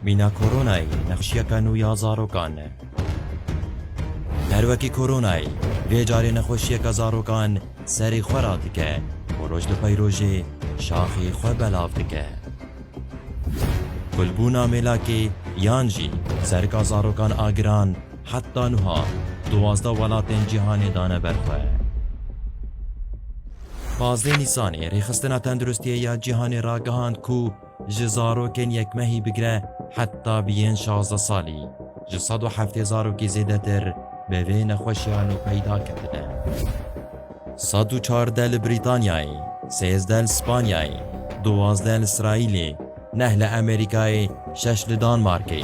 Mîna koronayê nexşiyeka nû ya zarokan e. Her wekî koronayê vê carê nexweşiyeke zarokan serê xwe radike û roj li pey rojê şaxê xwe belav dike. Kulbûna mêlakê yan jî serika zarokan a giran heta nuha duwazdeh welatên cîhanê dane ber xwe. Pazdeh Nîsanê Rêxistina Tenduristiyê ya Cîhanê ragihand ku Ji zarokên yekmehî bigire heta bi yên şazdeh salî, ji sed û heftê zarokî zêdetir bi vê nexweşiya nû peyda ketine. Sed û çardeh li Brîtanyayê, sêzdeh li Spanyayê, duwazdeh li Îsraîlê, neh li Amerîkayê, şeş li Danmarkê,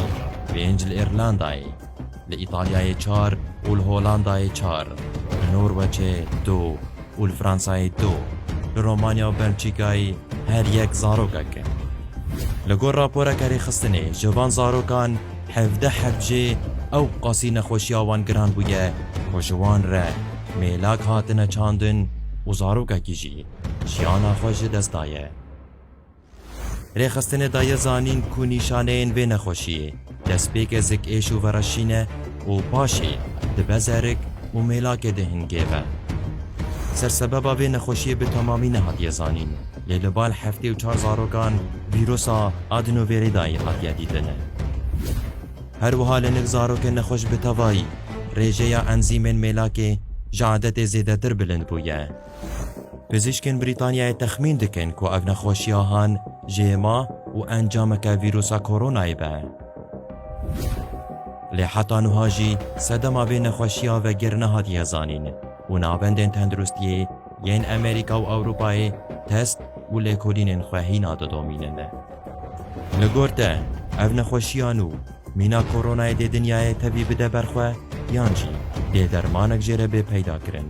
pênc li Îrlandayê, Li Îtalyayê çar û li Holandayê çar, li Norweçê du û li Fransayê du, li Romanya û Belçîkayê her yek zarokek e. Li gor raporeke rêxistinê ji van zarokan hevdeh hev jê ew qasî nexweşiya wan giran bûye ku ji wan re mêlak hatine çandin û zarokekî jî jiyana xwe ji dest daye. Rêxistinê daye zanîn ku nîşaneyên vê nexweşiyê destpêkê zikêş û vereşîn e û paşê dibe zerik û mêlakê di hingê ve. Sersebeba vê nexweşiyê bi temamî nehatiye zanîn, lê li bal heftê û çar zarokan vîrusa adenovirîdayî hatiye dîtin. Her wiha li nêk zarokên nexweş bi tevayî rêjeya enzîmên mêlakê ji adetê zêdetir bilind bûye. Pizîşkên Brîtanyayê texmîn dikin ku ev nexweşiya han JMA û encameke vîrusa koronayê be. Lê heta nuha jî sedema vê nexweşiya vegir nehatiye zanîn û navendên tenduristiyê yên Amerîka û Ewropayê test û lêkolînên xwe hîna didomînin. Li gor te ev nexweşiyan û mîna koronayê dê dinyayê tevî bide ber xwe yan jî dê dermanek jê re bê peyda kirin?